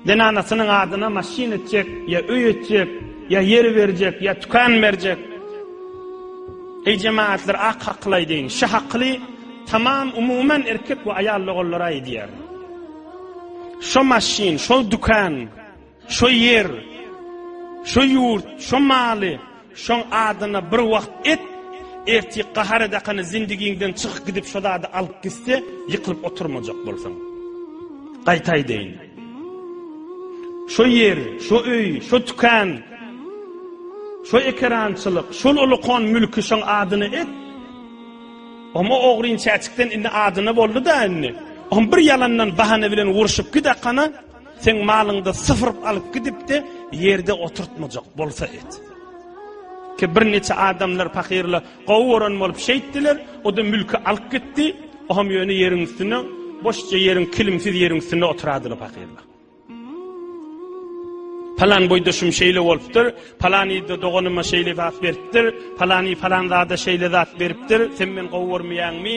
Zenanasynyň adyna maşyn etjek, ýa öý etjek, ýa ýer berjek, ýa tükan berjek. Eý jemaatlar ak hakyly aýdyň. Şu hakyly tamam umuman erkek we aýal logallara aýdýar. Şo maşyn, şo dükan Şo ýer, şo ýurt, şo maly şoň adyna bir wagt et, ertir gahar edakany zindigiňden çykyp gidip şo zady alyp gitse, ýykylyp oturmajak bolsaň. Gaýta aýdaýyn. Şo ýer, şo öý, şo tükan, şo ekerançylyk, şol ulukon mülki şoň adyna et. Oma ogryn çäçikden indi adyna boldy-da indi. Om bir ýalandan bahana bilen urşup gidakana, Sen malyňda syfyryp alyp gidipdi, ýerde oturtmajak bolsa et. Ki bir neçe adamlar fakirle gowy gören bolup şeýtdiler, o da mülki alyp gitdi, o hem ýöne ýeriň üstüne, boşça ýeriň kilimsiz ýeriň üstüne oturadylar fakirle. Palan boýda şum şeýle bolupdyr, palan ýerde doganyma şeýle zat beripdir, palany falan zada şeýle zat beripdir, sen men gowy görmeýäňmi?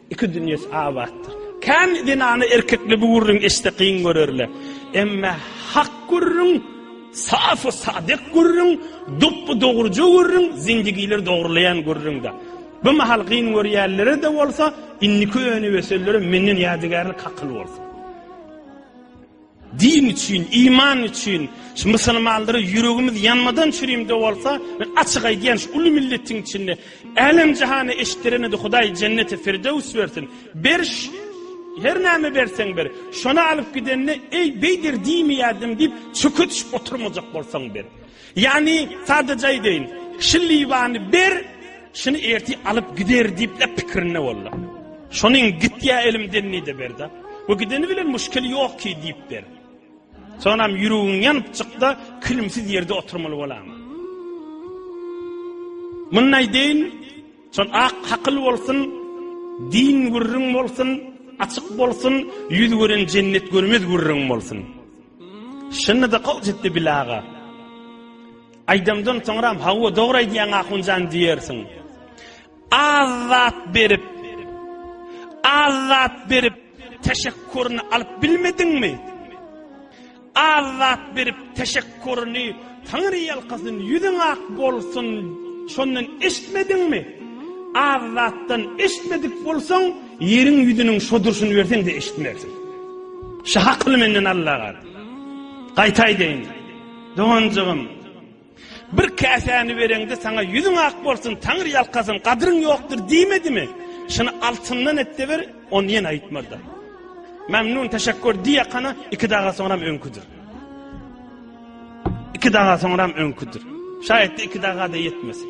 Iki dünýesi abatdyr. Kän zenana erkekli bu gürrüň eşitse kyn görerler. Emme hak gürrüň, safy sadyk gürrüň, dopby dogruja gürrüň, zendigileri dogrulaýan gürrüňdä. Bu mahal kyn görýänlere-de bolsa, indiki önüp ösenlere menden ýadygärlik hakyl bolsun. Din üçin, iman üçin, şu musulmanlara ýüregimiz ýanmadan çürimde bolsa, men açyk aýdýan şu uly milletiň içinde älem jahana eşitdirenede Hudaý jenneti firdewis bersin. Beriş her näme berseň ber. Şony alyp gidende eý beýder diýmeýärdim diýip çöke düşüp oturmajak bolsaň ber. Ýagny, sadaja aýdaýyn, Şu Liwany ber, şuny ertir alyp gider diýip-le pikirinde boldy. Şonuň gitýä elimden diýdi ber-de. Bu gideni bilen muşkil ýok ki diýip ber. Sonam ýüregiň ýanypjykda kilimsiz ýerde oturmaly bolama. Muny aýdaýyn, şon ak hakyl bolsun, din gürrüň bolsun, açyk bolsun, ýüz gören jennet görmez gürrüň bolsun. Şunda-da gowy çykdy Bile aga. Aýdymdan soňram hawa dogry aýdýaň Ahunjan diýersiň. Az zat berip az zat berip teşekkuryny alyp bilmediňmi? Az zat berip teşekkuryny Taňry ýalkasyn ýüzüň ak bolsun şondan eşitmediňmi? Az zatdan eşitmedik bolsaň Ýeriň ýüzüniň şo durşuny berseň-de eşitmersiň. Şu hakyly menden al-lagat. Gaýta aýdaýyn, doganjygym, bir käsäni bereňde saňa ýüzüň ak bolsun, Taňry ýalkasyn, gadryň ýokdur diýmedimi? Şuny altyndan et-de ber, ony ýene aýtmazlar. Memnun, teşekkür diýakana iki daga soňram öňküdir. Iki daga soňram öňküdir. Şaýatda iki daga-da ýetmesin.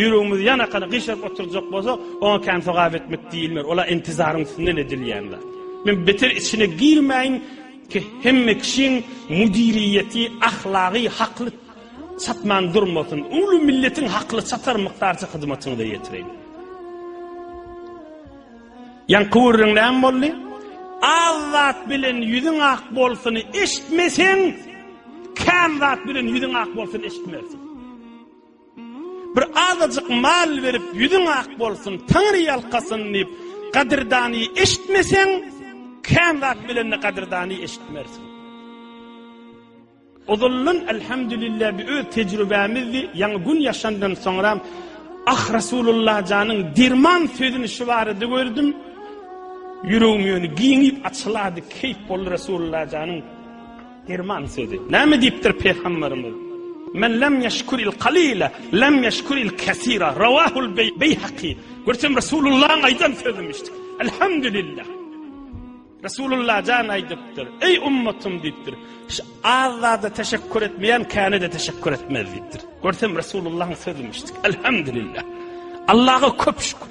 Ýüregimizi ýanakana gyşaryp oturjak bolsak, oňa kän sogap etmek diýilmer. Ol-a intizaryň üstünden edilýän zat. Men beter içine girmäýin, hemme kişiň müdiriýeti, ahlagy hakly çatman durmasyn. Uly milletiň hakly çatar mukdarça hyzmatyňyza ýetireýin. Ýaňky gürrüň näme boldy? Az zat bilen ýüzüň ak bolsuny eşitmeseň, kän zat bilen ýüzüň ak bolsun eşitmersiň. Bir azajyk mal berip, ýüzüň ak bolsun, Taňry ýalkasyn diýip, gadyrdany eşitmeseň, kän zat bilende gadyrdany eşitmersiň. Ozaldan elhamdülillah bi öz tejribämizdi, ýaňy gün ýaşandan soňram Ah Resulullah janyň derman sözüni şu barada gördüm. Ýüregim ýöne giňip açylady, keýp boldy Resulullah janyň. Derman sözi. Näme diýipdir Pygamberimiz? Men lem ýeşkuril kalile lem ýeşkuril kesira. Rawahul Beýhaki. Görsem Resulullahyň aýdan sözümiş. Elhamdülillah. Resulullah jan aýdypdyr. Eý ummatym diýipdir. Şu az zada teşekkür etmeýän käne de teşekkür etmez diýipdir. Görsem Resulullahyň sözümiş. Elhamdülillah. Allaha köp şükür.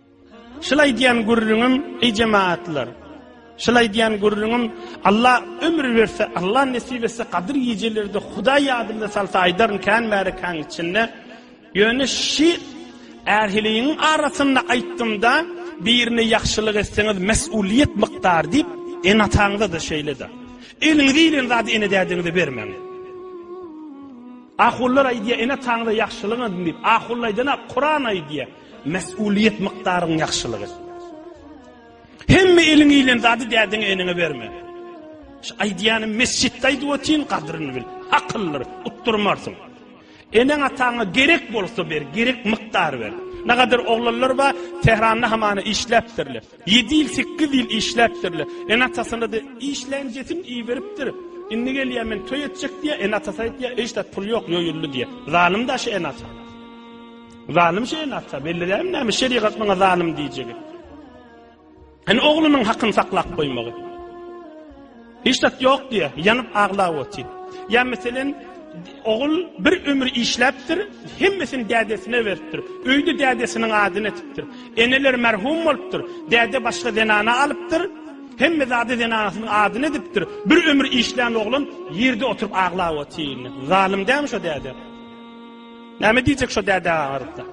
Şul aýdýan gürrüňim, eý jemagatlar! Şul aýdýan gürrüňim, Alla ömür berse, Alla nesip etse, gadyr gijelerde Hudaý ýadymda salsa aýdaryn kän märekäň içinde. Ýöne şi ähiliň arasynda aýtdymda, birine ýagşylyk etseňiz, mesulyýet mukdary diýip, ene-ataňyza-da şeýle-de. Eliňize ilen zady ene-dädiňize bermäň. Ahunlar aýdýar, ene-ataňyza ýagşylyk edin diýip. Ahunlar aýdana Kuran aýdýar. Mesulyýet mykdaryň ýagşylyk et. Hemme eliň ilen zady dädiň enine berme. Şu aýdýany mesjitde aýdyp otyn gadryny bil. Akyllyr, utdurmarsyň. Eneň ataňa gerek bolsa ber, gerek mykdar ber. Ne kadar oglanlar ba, Tehranda hamana işläpdirle. 7 ýyl, 8 ýyl işläpdirle. Ene atasyna da işlän jetin iberipdir. Indi gelýär men toý etjek diýä, ene atasy aýdýa, eşdat pul ýok, ýoýuldy diýä. Zalym da şu ene ata. Zalym şeýle ata, belli dälmi näme şerigat maňa zalym diýjegi? Hani oglunyň hakyny saklap goýmagy? Hiç zat ýok diýe, ýanyp aglap otyr. Ýa meselen, ogul bir ömür işläpdir, hemmesini dädesine beripdir. Öýde dädesiniň adyny etipdir. Eneler merhum bolupdyr, däde başga zenana alypdyr. Hemme zady zenanasynyň adyny edipdir. Bir ömür işlän oglan ýerde oturyp aglap otyr. Zalym dämi şo däde? Näme diýjek şo dädä agarypda?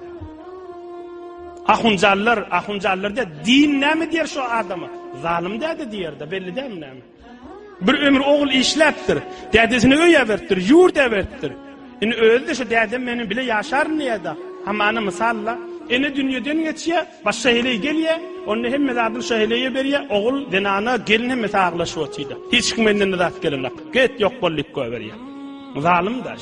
Ahunjallar, ahunjallar diýär, din näme diýer şo adama? Zalym däde diýer-de, belli däl näme. Bir ömür ogul işläpdir, dädesini öý äbertdir, ýurt äbertdir. Indi özi de şo dädem meniň bile ýaşaryn diýer-de. Hamana mysalla, ene dünýeden geçýär, başga heleý gelýär, onda hemme zadyny şo heleýe berýär, ogul, zenana, gelin hemme saglaşyp otyr-da. Hiç kim menden zat gelenok. Get ýok bol diýip goýberýär. Zalym daş.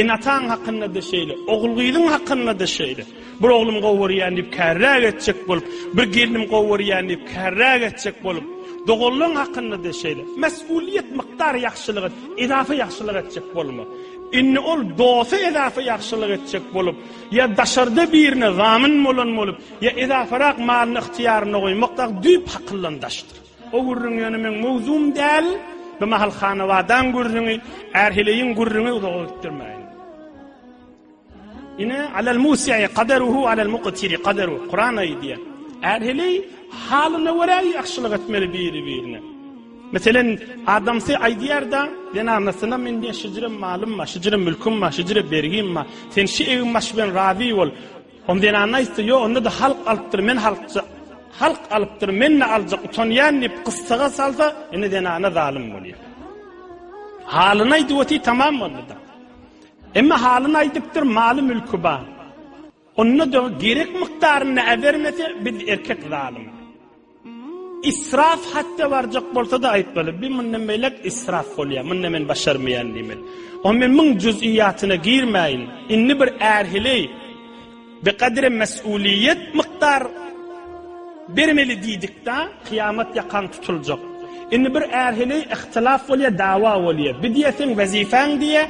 Ene-ataň hakynda-da şeýle, ogul-gyzyň hakynda-da şeýle. Bir oglum gowy görýän diýip kärräk etjek bolup, bir gelnim gowy görýän diýip kärräk etjek bolup, doganlaň hakynda-da şeýle. Mesulyýet mukdar ýagşylyk et, edafa ýagşylyk etjek bolma. Indi ol dosta edafa ýagşylyk etjek bolup, ýa daşarda birine zamin bolan bolup, ýa edafarak malyny ygtyýarynda goýmakda düýp hakyldan daşdyr. O gürrüň ýöne meň mowzugym däl. Bu mahal Hanabadaň gürrüňi, Ärheleýiň gürrüňi uzaga ötdürmäýin. Ine, alal musiýi qadaruhu alal muqtiri qadaru. Kuran aýdýa. Ärheleý halyna görä ýagşylyk etmeli biri-birine. Meselen, adamsy aýdýar-da, zenanasyna men şijirem malym bar, şijirem mülküm bar, şijirem bergim bar. Sen şu egin baş bilen razy bol. Hom zenanna aýtsa, Ýok, onda-da halk alypdyr, men halkja. Halk alypdyr, men-de aljak, utanýan diýip, gyssaga salsa, indi zenana zalym bolýar. Halyny aýdyp otyr, tamam boldy-da. Emma halyny aýdypdyr, maly-mülki bar. Onda-da gerek mukdarynda äbermese, biz erkek zalym. Israf hadde barjak bolsa-da aýtmaly, bi mundan beýläk israf bolýar, munda men başarmaýan diýmeli. Ony men müň juz'iýatyna girmäýin, indi bir ärhili bi kadri mes'uliýet mukdar bermeli diýdikdä, kyýamat ýakaň tutuljak. Indi bir ärhili ihtilaf bolýar, dawa bolýar. Bi diýýär seň wezipäň diýýär,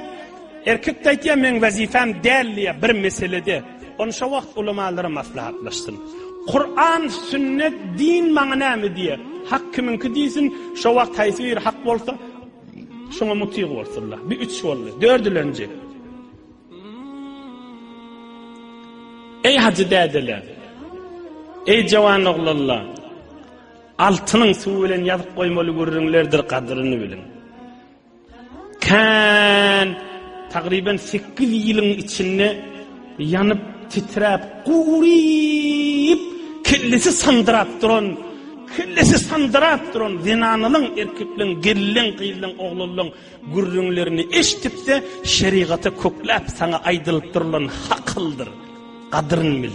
erkek-de aýtýar meň wezipam däl diýýär bir meselede. Ony şo wagt ulamalar maslahatlaşsyn. Kuran, sünnet, din maňa näme diýer? Hak kimiňki diýsin, şo wagt haýsy biri hak bolsa, şoňa mutyg bolsunlar. Bir üç boldy. Dördülenji. Ey hacı dädeler, ey jawan oglanlar, altynyň suwy bilen ýazyp goýmaly gürrüňlerdir gadyryny bilin. Kän tagryban 8 ýylyň içinde ýanyp, titräp, guryp, kellesi sandyrap duran, kellesi sandyrap duran zenanylaň, erkekleň, gelin, gyzlaň, oglanlaň gürrüňlerini eşitip-de, şerigata kökläp saňa aýdylyp durlan hakyldyr. Gadryn bil.